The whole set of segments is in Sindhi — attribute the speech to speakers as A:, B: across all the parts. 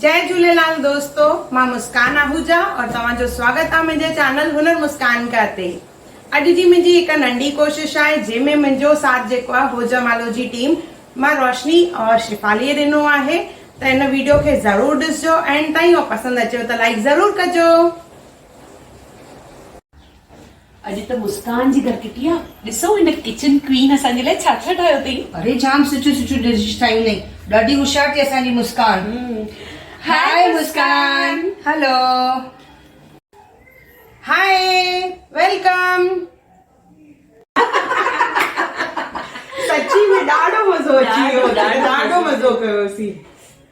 A: جئي جهوليلال دوستو مان مسڪان آهوجا اور توهان جو سواگت آ منهنجي چينل هنر مسڪان ڪا تي اڄ جي منهنجي هڪ ننڍي ڪوشش آهي جنهن ۾ منهنجو ساٿ جيڪو آ هو جمالو جي ٽيم مان روشني اور شفالي ڏنو آهي ته ان ويڊيو کي ضرور ڏسجو اينڊ تائين اور پسند اچيو ته لائڪ ضرور ڪجو.
B: اڄ ته مسڪان جي گهر ڪٽي آ. ڏسو هن ڪچن ڪوين اسان جي لاء ڇا ڇا ٺاهيو اٿئي. اري جام سٺيون سٺيون
C: ڊشز ٺاهيون اٿئي. ڏاڍي هوشيار ٿي اسان جي مسڪان. هائي مسڪان. هلو.
A: هائي ويلڪم. سچي ۾ ڏاڍو مزو اچي ويو. ڏاڍو مزو ڪيوسين.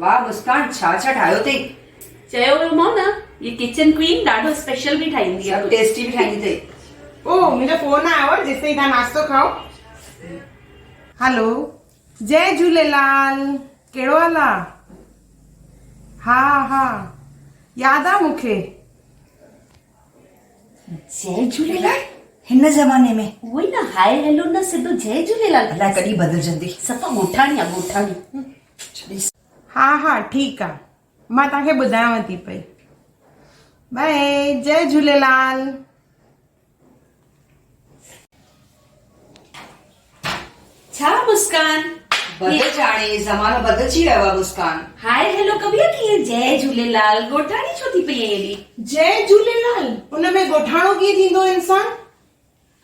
A: واه
C: مسڪان ڇا ڇا ٺاهيو اٿئي. چيو هو
B: مون نه هي ڪچن ڪوين ڏاڍو اسپيشل به ٺاهيندي آهي. سڀ ٽيسٽي به ٺاهيندي
C: اٿئي. او منهنجو
A: فون آيو آهي جيستائين توهان ناشتو کائو. هلو جئي جهوليلال ڪهڙو حال آ ها ها ياد آ مونکي.
B: جئي جهوليلال هن زماني
C: ۾ اهو ئي نه هائي هيلو
B: نه سڌو جئي جهوليلال الاء ڪڏهن بدلجندي.
C: سفا ڳوٺاڻي آ
B: ڳوٺاڻي. ها ها
A: ٺيڪ آ مان توهان کي ٻڌايانو ٿي پئي. باء جئي جهوليلال.
B: ڇا مسڪان بدج آڻي
C: زمانو بدلجي ويو آ مسڪان. هائي هيلو ڪبير
B: ڪيئن جئي جهوليلال ڳوٺاڻي ڇو ٿي پئي ايڏي. جئي جهوليلال
A: ان ۾ ڳوٺاڻو ڪيئن ٿيندو انسان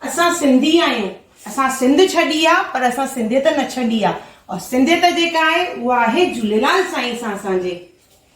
A: اسان سنڌي آهيون اسان سنڌ ڇڏي آ پر اسان سنڌيت نه ڇڏي آ اور سنڌيت جيڪا آهي اها آهي جهوليلال سائين سان اسان جي.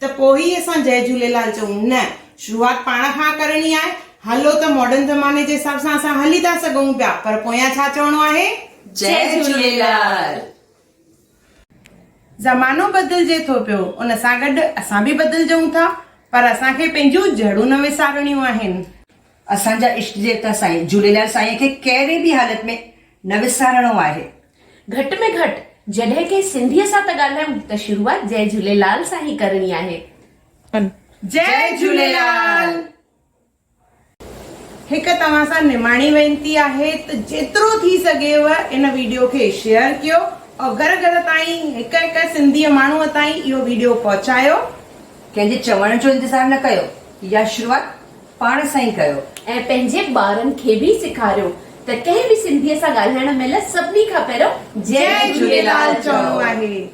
A: ته پوء ئي اسان جئه جهوليلال چئون؟ نه، شروعات پاڻ کان ڪرڻي آهي. هلو ته ماڊرن زماني جي حساب سان اسان هلي ٿا سگهون پيا پر پويان ڇا چوڻو آهي؟ جئه جهوليلال. زمانو بدلجي ٿو پيو ان سان گڏ اسان به بدلجئون ٿا پر اسان کي پنهنجون جڙون نه وسارڻيون آهن. اسان جا اشٽ
C: ديوتا سائين جهوليلال سائينء کي ڪهڙي به حالت ۾ نه وسارڻو آهي. گهٽ ۾ گهٽ
B: جڏهن ڪنهن سنڌيء سان ته ڳالهايون ته شروعات جئي جهوليلال سان ئي ڪرڻي آهي.
A: جئي جهوليلال. هڪ توهان سان نماڻي وينتي آهي ته جيترو ٿي سگهيو ان ويڊيو کي شيئر ڪيو ۽ گهر گهر تائين هڪ هڪ سنڌيء ماڻهوء تائين اهو ويڊيو پهچايو. ڪنهن جي
C: چوڻ جو انتظار نه ڪيو يا شروعات. پاڻ سان ئي ڪيو. ۽ پنهنجي ٻارن
B: کي به سيکاريو ته ڪنهن به سنڌيء سان ڳالهائڻ مهل سڀني کان پهريون جئي جهوليلال
A: چئو. آهي.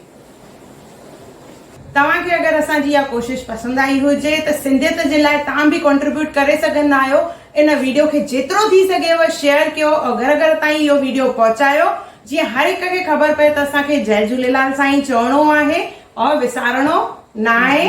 A: توهان کي اگر اسان جي اها ڪوشش پسند آئي هجي ته سنڌيت جي لاء توهان به ڪنٽريبيوٽ ڪري سگهندا آهيو ان ويڊيو کي جيترو ٿي سگهيو شيئر ڪيو او گهر گهر تائين اهو ويڊيو پهچايو جيئن هر هڪ کي خبر پئي ته اسان کي جئي جهوليلال سان ئي چوڻو آهي او وسارڻو ناهي.